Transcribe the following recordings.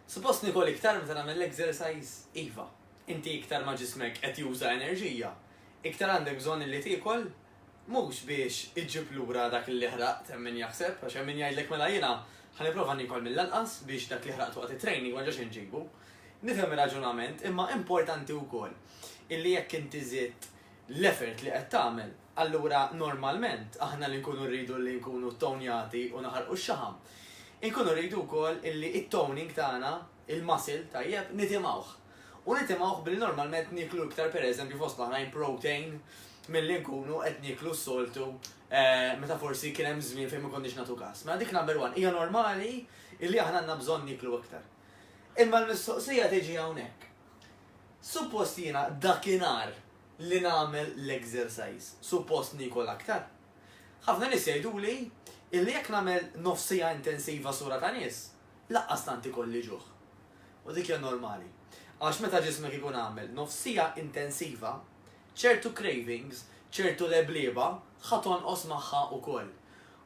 Suppost nikol iktar meta nagħmel l-exercise? Iva. Inti iktar ma ġismek qed juża enerġija, iktar għandek bżonn li tiekol mhux biex iġġib lura dak li ħraqt hemm min jaħseb, għax hemm min jgħidlek mela jiena ħalli prova nikol mill-anqas biex dak li ħraqtu waqt it-training ma ġax inġibu. Nifhem ir-raġunament, imma importanti wkoll illi jekk inti żidt l-effort li qed tagħmel, Allura normalment aħna li nkunu rridu li nkunu ttownjati u naħarqu x-xaħam, inkunu rridu wkoll li t-toning tagħna, il-muscle tajjeb, nitimgħuh. U nitimgħuh billi normalment nieklu iktar pereżempju fost l-oħrajn protein milli nkunu qed nieklu s-soltu meta forsi kien hemm żmien fejn ma konniex nagħtu kas. Mela dik number one, hija normali li aħna għandna bżonn nieklu iktar. Imma l-mistoqsija tiġi hawnhekk. Suppost jiena dakinhar li nagħmel l-exercise, suppost niekol aktar. Ħafna nies jgħiduli illi jekk nagħmel nofs siegħa intensiva sura ta' nies, laqqas tant ikolli ġuħ. U dik hija normali. Għax meta ġismek ikun għamel nofs siegħa intensiva, ċertu cravings, ċertu leblieba ħa tonqos magħha ukoll.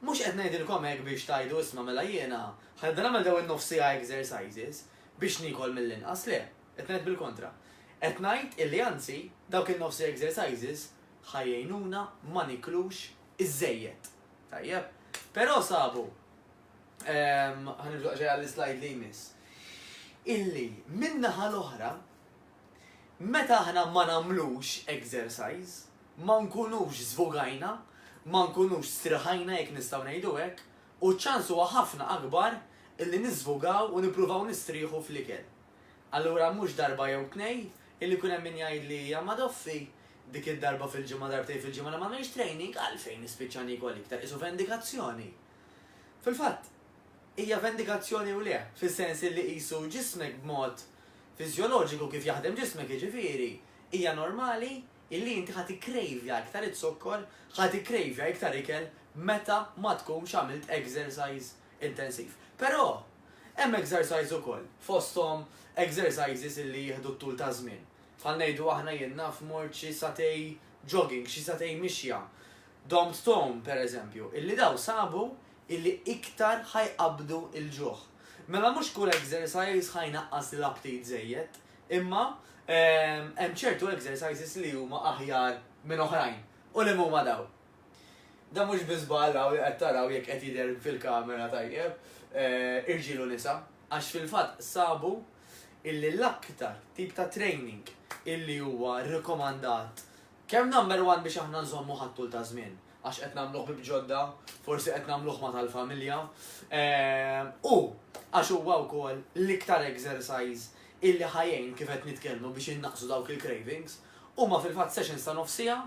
Mhux qed ngħidilkom hekk biex tgħidu isma' mela jiena ħa nibda nagħmel dawn in-nofs siegħa exercises biex niekol mill-inqas, le. Qed ngħid bil-kontra. Qed ngħid illi anzi dawk in-nofsi exercises ħa jgħinuna ma niklux iżżejjed. Tajjeb. Però sabu, ehm, ħa nibżgħu daqsxejn għall-islajd li jmiss, illi min-naħa l-oħra meta aħna ma nagħmlux exercise, ma nkunux żvugajna, ma nkunux striħajna jekk nistgħu ngħidu hekk, u ċ-ċans huwa ħafna akbar illi niżvugaw u nippruvaw nistrieħu fl-ikel. Allura mhux darba jew tnejn, illi jkun hemm min jgħidli hija ma' doffi, dik id-darba fil-ġimgħa darbtejn fil-ġimgħa li m'għamilx training, għalfejn nispiċċa niekol iktar, qisu vendikazzjoni. Fil-fatt, hija vendikazzjoni u le, fis-sens illi qisu ġismek b'mod fiżjoloġiku kif jaħdem ġismek jiġifieri, hija normali illi inti ħa tikkrejvja iktar iz-zokkor, ħa tikkrejvja iktar ikel meta ma tkunx għamilt exercise intensiv. Però, hemm exercise ukoll, fosthom exercises illi jieħdu t-tul ta' żmien. Bħal ngħidu aħna jien naf mort xi sagħtej jogging, xi sagħtej mixja, dom tom, per eżempju, illi dawn sabu illi iktar ħa jqabbdu l-ġuħ. Mela mhux kull exercise ħa jnaqqas l-aptit żejjed, imma hemm ċertu exercises li huma aħjar minn oħrajn. U liema huma dawn? Dan mhux biss żball hawn li qed taraw jekk qed jidher fil-kamera tajjeb, irġiel u nisa, għax fil-fatt sabu illi l-aktar tip ta' training illi huwa rikomandat kemm number one biex aħna nżommuh għat-tul ta' żmien għax qed nagħmlu ħbieb ġodda, forsi qed nagħmluh ma' tal-familja, u għax huwa wkoll l-iktar exercise illi ħa jgħin kif qed nitkellmu biex innaqqsu dawk il-cravings, huma fil-fatt sessions ta' nofs siegħa,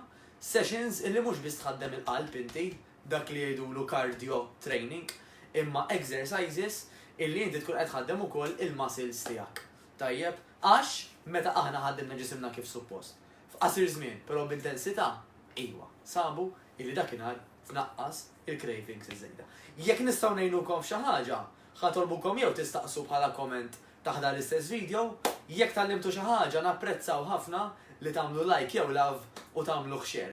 Sessions illi mhux biss tħaddem il-qalb inti, dak li jgħidulu cardio training, imma exercises illi inti tkun qed tħaddem ukoll il-muscles tiegħek. Tajjeb? Għax meta aħna ħaddimna ġisimna kif suppost, f'qasir żmien, però b'intensità, ejwa, sabu illi dakinhar tnaqqas il-cravings iż-żejda. Jekk nistgħu ngħinukom f'xi ħaġa, ħa tolbukom jew tistaqsu bħala comment Taħdar l-istess video, jekk tgħallimtu xi ħaġa napprezzaw ħafna li tagħmlu like jew love u tagħmluh share.